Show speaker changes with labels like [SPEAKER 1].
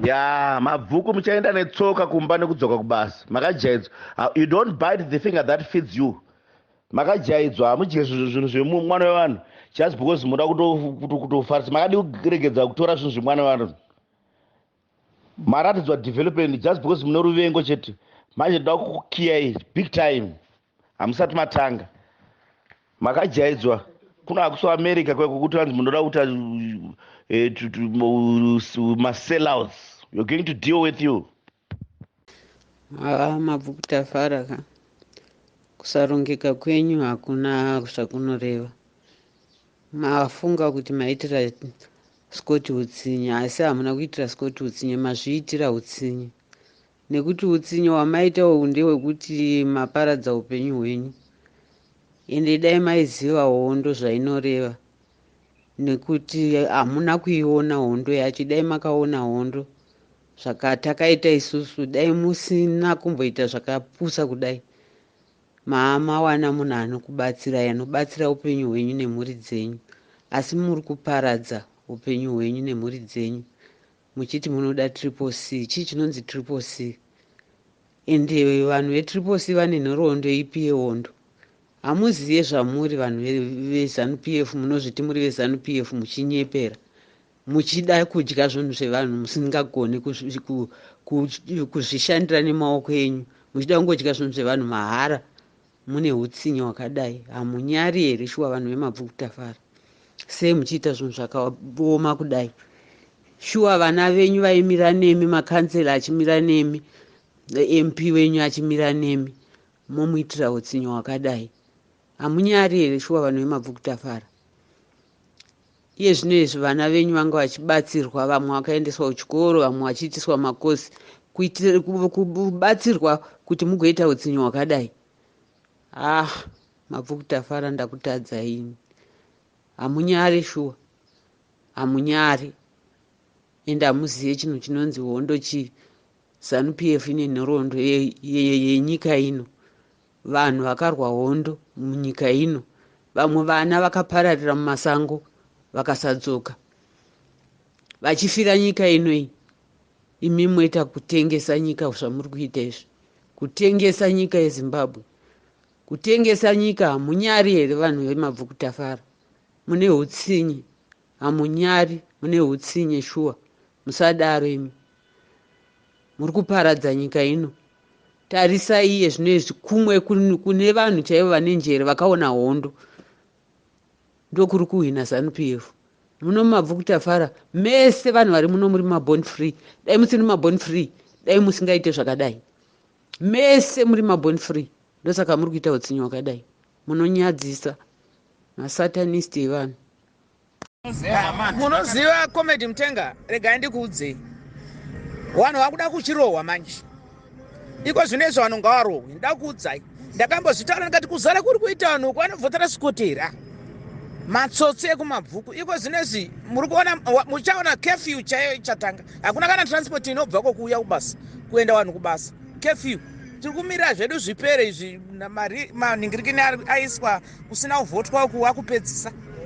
[SPEAKER 1] ya mabvuku muchaenda netsoka kumba nekudzoka kubasa makajaidzwa you don't bite the finger that feeds you makajaidzwa hamudye zvinhu zvemwana wevanhu just because muda kutofarisa makadi kuregedza kutora zvinhu zvemwana wevanhu maratidzwa development just because mune ruvengo chete manje ndoda kukukiyai big time hamusati matanga makajaidzwa kuno hakuso america kweko kuti vanzi munoda kuita eh, masellouts you're going to deal with you haa
[SPEAKER 2] mabvuku tafara ka kusarongeka kwenyu hakuna zvakunoreva mafunga kuti maitira scott utsinye asi hamuna kuitira scott utsinye mazviitira utsinye nekuti utsinye wamaita uyu ndewekuti maparadza upenyu hwenyu ende dai maiziva hondo zvainoreva nekuti hamuna kuiona hondo yacho dai makaona hondo zvakatakaita isusu dai musina kumboita zvakapusa kudai maamawana munhu anokubatsirai anobatsira upenyu hwenyu nemhuri dzenyu asi muri kuparadza upenyu hwenyu nemhuri dzenyu Muchiti munoda triple C. Chii chinonzi triple C? And vanhu ve triple C vane nhoroondo ipi yehondo? Hamuziye zvamuri vanhu veZanu PF munozviti muri veZanu PF muchinyepera. Muchida kudya zvinhu zvevanhu musingagone kuzvishandira nemaoko enyu. Muchida kungodya zvinhu zvevanhu mahara. Mune hutsinye hwakadai hamunyari here shuwa vanhu vemabvuku tafara sei muchiita zvinhu zvakaoma kudai shuwa vana venyu vaimira nemi makansela achimira nemi mp wenyu achimira nemi momuitira utsinyo hwakadai hamunyari here shuwa vanhu vemabvukutafara Iye zvino izvi vana venyu vanga vachibatsirwa vamwe vakaendeswa kuchikoro vamwe vachiitiswa makosi kuitira kubatsirwa kuti mugoita utsinye hwakadai ah mabvu kutafara ndakutadza ini hamunyare shuwa hamunyare ende hamuzive chinhu chinonzi hondo chii zanupf ine nhoroondo yenyika ino Vanhu vakarwa hondo munyika ino. Vamwe vana vakapararira mumasango vakasadzoka vachifira nyika ino iyi. Imi moita kutengesa nyika zvamuri kuita izvi, kutengesa nyika yeZimbabwe, kutengesa nyika. Hamunyari here vanhu vemabvukutafara? Mune hutsinye. Hamunyari mune hutsinye shuwa musadaro imi muri kuparadza nyika ino tarisai iye zvino izvi kumwe kune vanhu chaivo vane njere vakaona hondo ndokuri kuhwina zanu p f muno mabvu kutafara mese vanhu vari muno muri mabon free dai musiri mabon free dai musingaite zvakadai mese muri mabon free ndosaka muri kuita utsinye wakadai munonyadzisa masatanist evanhu
[SPEAKER 3] munoziva comedy mutenga regai ndikuudzei vanhu vakuda kuchirohwa manje iko zvino izvo vanhu ngavarohwi ndakuudzai ndakambozvitaura ndikati kuzara kuri kuita vanhu uku vanobvotera sikotera matsotsi ekumabvuku iko zvino izvi muri kuona muchaona kefiu chaiyo ichatanga hakuna kana transport inobva kokuuya kubasa kuenda vanhu kubasa kefiu tiri kumirira zvedu zvipere izvi maningirikini aiswa kusina kuvhotwa uku wakupedzisa